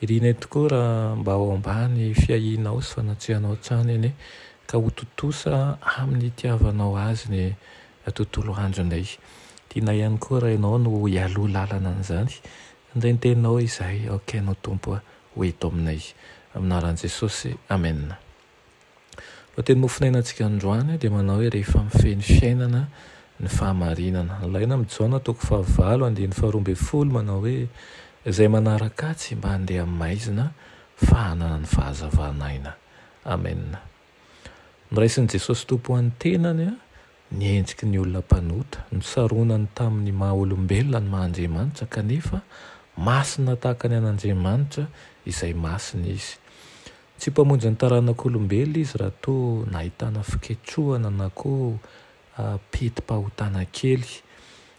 Irina tokoa raha mba ao ambany fiahianao sy fanatrehanao hatrany anie ka ho tontosa amin'ny itiavanao azy ny tontolo andronay. Tianay ihany koa raha ianao no hialoha lalana an'izany. Handray ny teninao izahay aoka ianao Tompo ho eto aminay. Amin'ny anaran'i Jesosy, Amena. Ny teny mofonainantsika androany dia manao hoe rehefa mifehy ny fiainana ny fahamarinana. Ny laina amin'i Jaona toko fahavalo andiany faharoa ambin'ny folo manao hoe izay manaraka Azy mba handeha amin'ny maizina fa hanana ny fahazavan'aina. Amena. Noraisin'i Jesosy Tompo ho an'ny tenany ny henciky ny olona mpanota, nosaronany tamin'ny maha olombelona ny maha Andriamanitra kanefa masina tahaka ny an'Andriamanitra izay masina Izy. Tsy mpamonjy ny taranak'olombelona izy raha toa nahitana fiketsohana na koa peti-pahotana kely.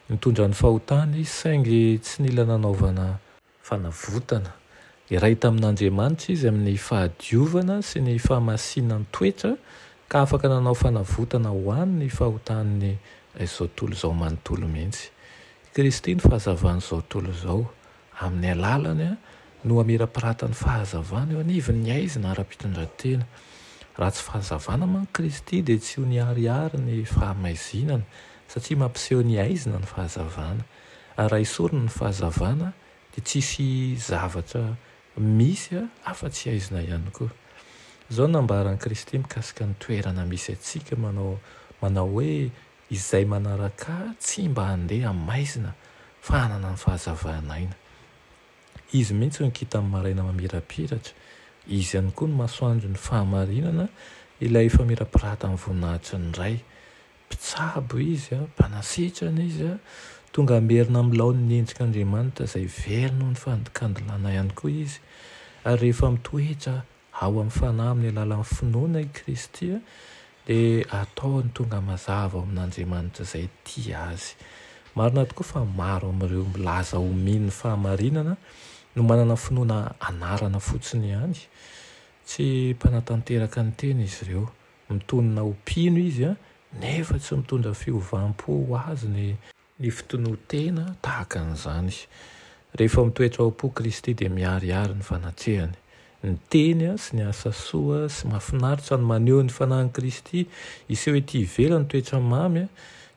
Nitondra ny fahotany izy saingy tsy nila nanaovana. Fanavotana. Iray tamin'Andriamanitra izy amin'ny fahadiovana sy ny fahamasinan-toetra ka afaka nanao fanavotana ho an ny fahotan'ny izao tontolo izao manontolo mihitsy. I Kristy no fahazavan'izao tontolo izao. Amin'ny alalany no hamirapiratan'ny fahazavana eo anivon' ny haizina ara-pitondran-tena. Raha tsy fahazavana manko Kristy dia tsy ho niharihary ny fahamaizinana, satria mampiseho ny haizina ny fahazavana. Ary raha esorina ny fahazavana dia tsy hisy zavatra misy afa-tsy haizina ihany koa. Izao no nambaran'i Kristy mikasika ny toerana misy antsika manao manao hoe Izay manaraka ahy tsy mba handeha amin'ny maizina fa hanana ny fahazavana aina. Izy mihitsy ny kintan'ny maraina mamirapiratra, Izy ihany koa ny masoandron'ny fahamarinana, ilay efa mirapirata amin'ny voninahitry ny Ray. Mpitsabo Izy, Mpanasitrana Izy, tonga hamerina amin'ny laoniny endrika Andriamanitra izay very noho ny fandikandilana ihany koa Izy, ary rehefa mitoetra Ao amin'ny Fanahy amin'ny alalan'ny finoana i Kristy dia ataony tonga mazava ao amin'Andriamanitra izay tia azy. Marina tokoa fa maro amin'ireo milaza ho mino ny fahamarinana no manana finoana anarana fotsiny ihany. Tsy mpanatanteraka ny tena izy ireo. Mitonona ho mpino izy nefa tsy mitondra fiovam-po ho azy ny ny fitonoan-tena tahaka an'izany. Rehefa mitoetra ao am-po Kristy dia miharihary ny fanatrehany. Ny teny sy ny asa soa sy mahafinaritra no maneho ny fanahin'i Kristy hiseho ety ivelany toetra mamy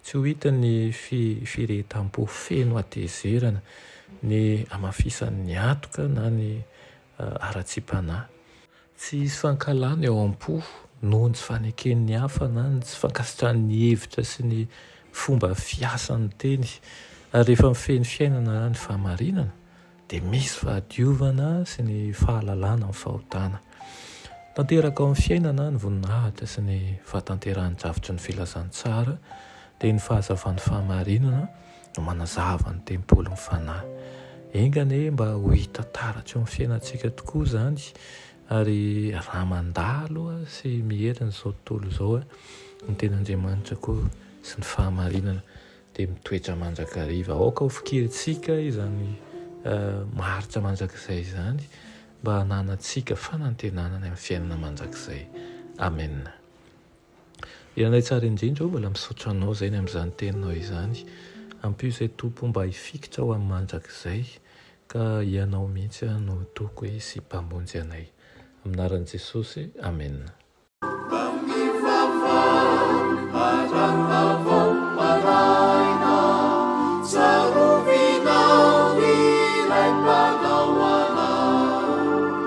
tsy ho hitan'ny firehetam-po feno hatezerana, ny hamafisan'ny hatoka na ny haratsiam-panahy. Tsy hisy fankahalana eo am-po noho ny tsy faneken'ny hafa na ny tsy fankasitrahany ny hevitra sy ny fomba fiasan'ny teny. Ary rehefa mifehy ny fiainana ny fahamarinana, dia misy fahadiovana sy ny fahalalana amin'ny fahotana. Tanteraka ao amin'ny fiainana ny voninahitra sy ny fahatanterahan-drafitry ny filazantsara, dia ny fahazavan'ny fahamarinana, no manazava ny tempolin'ny Fanahy. Enga anie mba ho hita taratra eo amin'ny fiainantsika tokoa izany, ary raha mandalo sy miherina izao tontolo izao ny Tenin'Andriamanitra koa sy ny fahamarinana dia mitoetra mandrakariva. Aoka ho fikirintsika izany maharitra mandrakizay izany mba hananantsika fanantenana any amin'ny fiainana mandrakizay. Amena. Ianay tsara indrindra ô, mbola misaotra anao izay ny amin'izany teninao izany. Ampio izay Tompo mba hifikitra ho amin'ny mandrakizay ka Ianao mihitsy no Toko sy Mpamonjy anay. Amin'ny anaran'i Jesosy, Amena.